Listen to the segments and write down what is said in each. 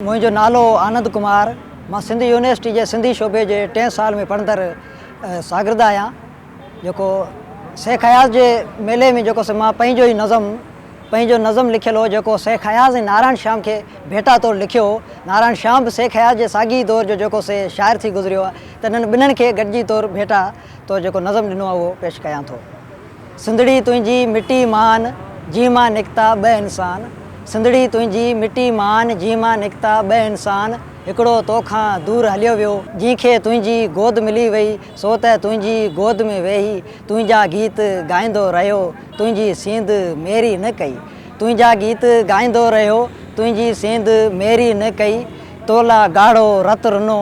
منهنجو نالو آنند ڪمار، مان سنڌ يونيورسٽي جي سنڌي شعبي جي ٽئين سال ۾ پڙهندڙ شاگرد آهيان، جيڪو شيخ اياز جي ميلي ۾ جيڪو سو مان پنهنجو ئي نظم پنهنجو نظم لکيل هو جيڪو شيخ اياز ۽ نارائڻ شيام کي ڀيٽا طور لکيو هو، نارائڻ شيام به شيخ اياز جي ساڳي ئي دور جو جيڪو سي شاعر ٿي گذريو آهي ته انهن ٻنهن کي گڏجي طور ڀيٽا طور جيڪو نظم ڏنو آهي اهو پيش ڪيان ٿو. سنڌڙي تنهنجي مٽي مان جنهن مان نڪتا ٻه انسان سنڌڙي تنهنجي مٽي مان جنهن مان نڪتا ٻه انسان هڪڙو تو کان دور هليو ويو جنهن کي تنهنجي گود ملي وئي سو ته تنهنجي گود ۾ ويهي تنهنجا گيت ڳائيندو رهيو تنهنجي سينڌ ميري نه ڪئي تنهنجا گيت ڳائيندو رهيو تنهنجي سينڌ ميري نه ڪئي تو لا ڳاڙهو رت رنو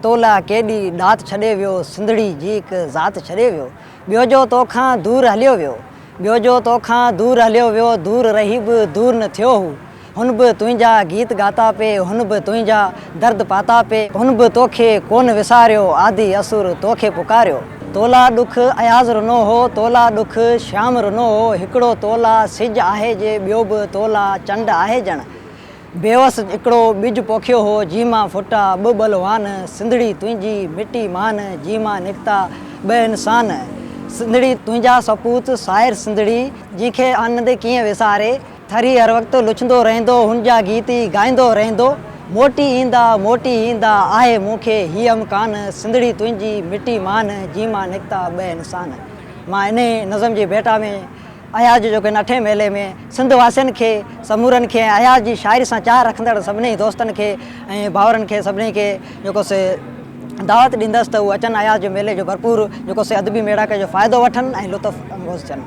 تو لا ڪيڏي ڏات ڇڏي ويو سنڌڙي جي هڪ ذات ڇڏي ويو ٻيو جو تو کان دور هليو ويو. ٻيو جو تو کان دور هليو ويو دور رهي به دور نه ٿيو هو هن به تنهنجا گيت ڳاتا پي هن به تنهنجا درد پاتا پي. هن به توکي ڪونه وساريو آڌي اسور توکي پڪاريو تو لا ڏک اياز رنو هو تو لا ڏک شيام رنو هو هڪڙو تو لا سج آهي جي ٻيو به تو لا چنڊ آهي ڄڻ بيوس هڪڙو ٻج پوکيو هو، جنهن مان ڦٽا ٻه ٻلوان، سنڌڙي تنهنجي مٽي مان، جنهن مان نڪتا ٻه انسان. سنڌڙي تنهنجا سپوت، شاعر سنڌڙي، جنهن کي آنند ڪيئن وساري، ٿري هر وقت لڇندو رهندو، هن جا گيت ئي ڳائيندو رهندو، موٽي ايندا، موٽي ايندا، آهي مون کي هي امڪان، سنڌڙي تنهنجي مٽي مان، جنهن مان نڪتا ٻه انسان. مان انهيء نظم جي ڀيٽا ۾ اياز جو جوکين اٺين ميلي ۾ سنڌ واسين کي سمورن کي ۽ اياز جي شاعري سان چاهه رکندڙ سڀني دوستن کي ۽ ڀائرن کي سڀني کي جيڪو سي دعوت ڏيندس ته هو اچن اياز جي ميلي جو ڀرپور جيڪو سي ادبي ميڙاڪي جو فائدو وٺن ۽ لطف اندوز ٿين.